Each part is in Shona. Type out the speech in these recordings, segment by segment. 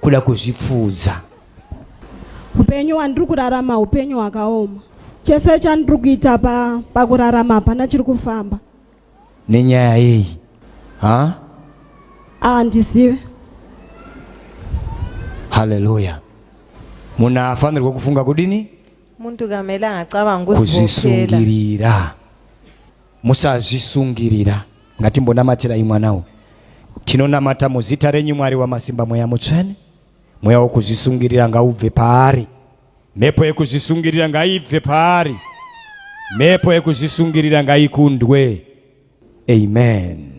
kuda kuzvipfuudza upenyu wandiri kurarama upenyu hwakaoma chese chandiri kuita pa, pakurarama hapana chiri kufamba nenyaya yeyi ha handizive haleluya munhu afanirwa kufunga kudini muntu kamele angacabangi kuzvisungirira Musazvisungirira. Ngatimbonamatirai mwana uyu. Tinonamata muzita renyu Mwari wamasimba mweya mutsvene. Mweya wokuzvisungirira ngaubve paari. Mhepo yekuzvisungirira ngaibve paari. Mhepo yekuzvisungirira ngaikundwe. Amen.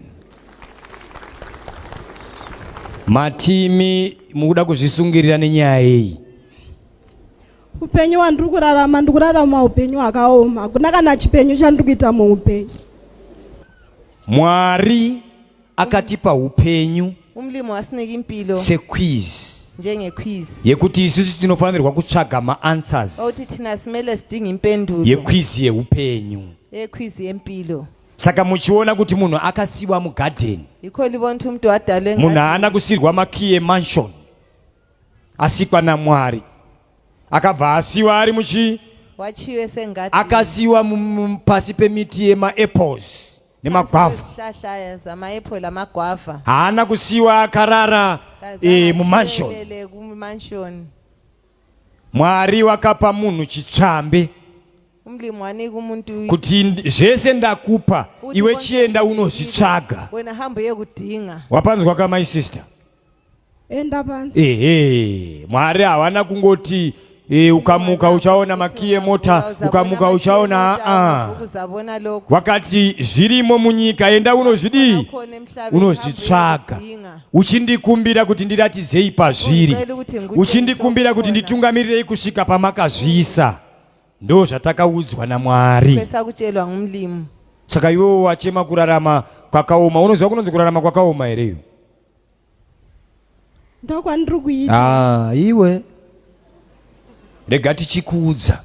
Matimi mukuda kuzvisungirira nenyaya yeyi. Upenyu wandiri kurarama ndiri kurarama upenyu hwakaoma, hakuna kana chipenyu chandiri kuita muupenyu. Mwari akatipa upenyu umlimo wasinika impilo sequiz njengequiz yekuti isusu tinofanirwa kutsvaga maanswers okuti thina simele sidinga impendulo yequiz yeupenyu yequiz yempilo saka muchiona kuti munhu akasiwa mugadheni yikho libona ukuthi umntu wadalwe munhu haana kusirwa makiye mansion asikwa naMwari akabva asiwa ari muchi wachiwe sengati akasiwa pasi pemiti yemaapples nemagwavha haana kusiwa akarara e, mumanshoni mwari wakapa munhu chitsvambe kuti zvese ndakupa iwe chienda unozvitsvaga wapanzwa ka my sister enda panze ehe mwari hawana kungoti e, ukamuka uchaona makiyi emota ukamuka uchaona aa kuzavona loko wakati zvirimo munyika enda unozvidii Unokhona emhlabeni, unozvitsvaga unodinga. uchindikumbira kuti ndiratidzei pazviri Ungicela ukuthi ngikutshengise uchindikumbira kuti okukhona. nditungamirirei kusvika pamakazviisa ndo zvatakaudzwa namwari besakutshelwa ngumlimu saka iwewo wachema kurarama kwakaoma unoziva kunonzi kurarama kwakaoma here iyo ndokwandiri kuita ah, iwe rega tichikuudza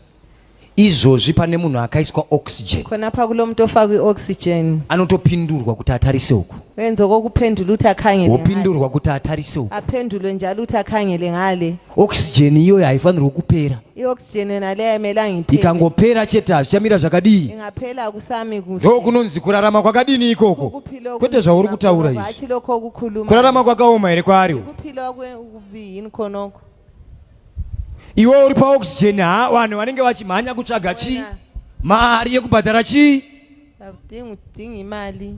izvozvi pane munhu akaiswa oxygen kona pakulo mutofa kweoxygen anotopindurwa kuti atarise uku wenzoko kuphendula uthi akhangele wopindurwa kuti atarise uku aphendulwe njalo uthi akhangele ngale oxygen iyoyo haifanirwi kupera ioxygen yona leyo haimelangi iphele ikangopera chete hazvichamira zvakadii ingaphela akusami kuhle ndo kunonzi kurarama kwakadini ikoko Ukuphila okunzima kwete zvauri kutaura kwakho, izvi hatshi lokho okukhuluma kurarama kwakaoma here kwaari uku? ukuphila okwe- okubi yini khonokho iwe uri paoxygen ha vanhu vanenge vachimhanya kutsvaga chii Wena. mari yekubhadhara chii akudingi udinga imali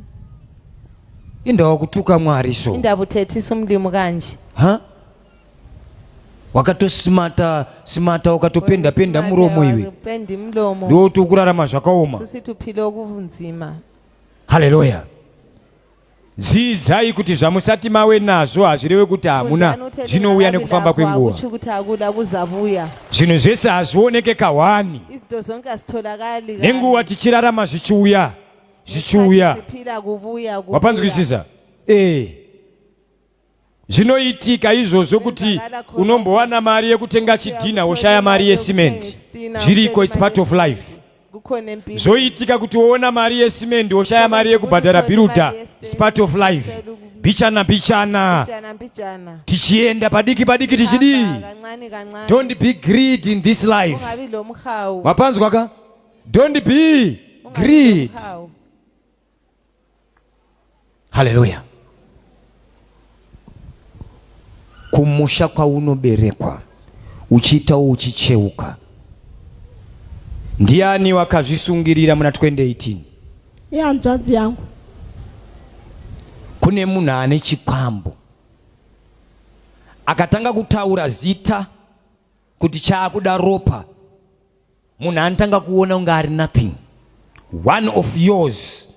indawa kutuka mwari so indaba uthethisa umlimu kanje ha wakatosimata simata wakatopenda penda muromo iwe ndoti ukurarama zvakaoma haleluya dzidzai kuti zvamusati mawe nazvo hazvireve kuti hamuna zvinouya nekufamba kwenguva zvinhu zvese hazvioneke kahwani nenguva tichirarama zvichiuya zvichiuya wapanzwisisa ee eh. Zvinoitika izvozvo kuti unombowana mari yekutenga chidhinha woshaya mari yesimendi. Zviriko, it's part of life. Zvoitika kuti woona mari yesimendi woshaya mari yekubhadhara bhiruda, it's part of life. Bichana bichana, tichienda padiki padiki tichidii. Don't be greed in this life. Wapanzwa ka? Don't be greed. Haleluya! Kumusha kwaunoberekwa uchiitawo uchicheuka. Ndiani wakazvisungirira muna 2018? Ihanzvadzi yangu. Kune munhu ane chikwambo akatanga kutaura zita kuti chaakuda ropa munhu anotanga kuona kunge ari nothing one of yours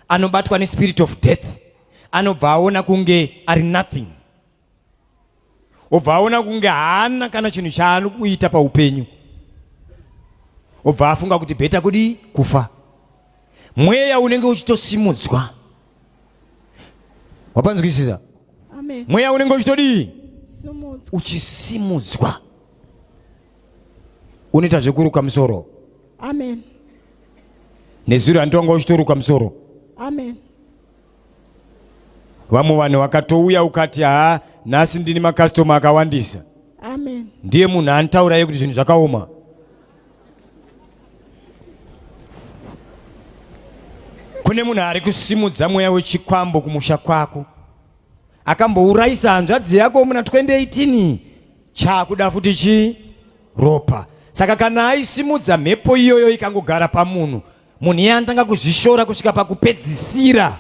anobatwa nespirit of death anobva aona kunge ari nothing obva aona kunge haana kana chinhu chaano kuita paupenyu obva afunga kuti bheta kudii kufa mweya unenge uchitosimudzwa wapanzwisisa mweya unenge uchitodii uchisimudzwa unoita zvekuruka musoro nezuro andiwanga uchitoruka musoro Amen. vamwe vanhu vakatouya ukati haa nhasi ndini makastoma akawandisa amen ndiye munhu anitaura yekuti zvinhu zvakaoma kune munhu ari kusimudza mweya wechikwambo kumusha kwako akambourayisa hanzvadzi yako muna 2018 chaakuda futi chi ropa saka kana aisimudza mhepo iyoyo ikangogara pamunhu munhu iye anotanga kuzvishora kusvika pakupedzisira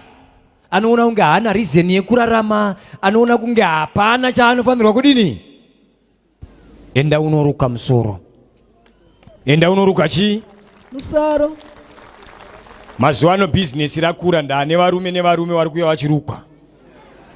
anoona kunge haana rizeni yekurarama anoona kunge hapana chaanofanirwa kudini enda unoruka musoro enda unoruka chii musoro mazuva ano bhizinesi rakura ndaane varume nevarume vari kuya vachirukwa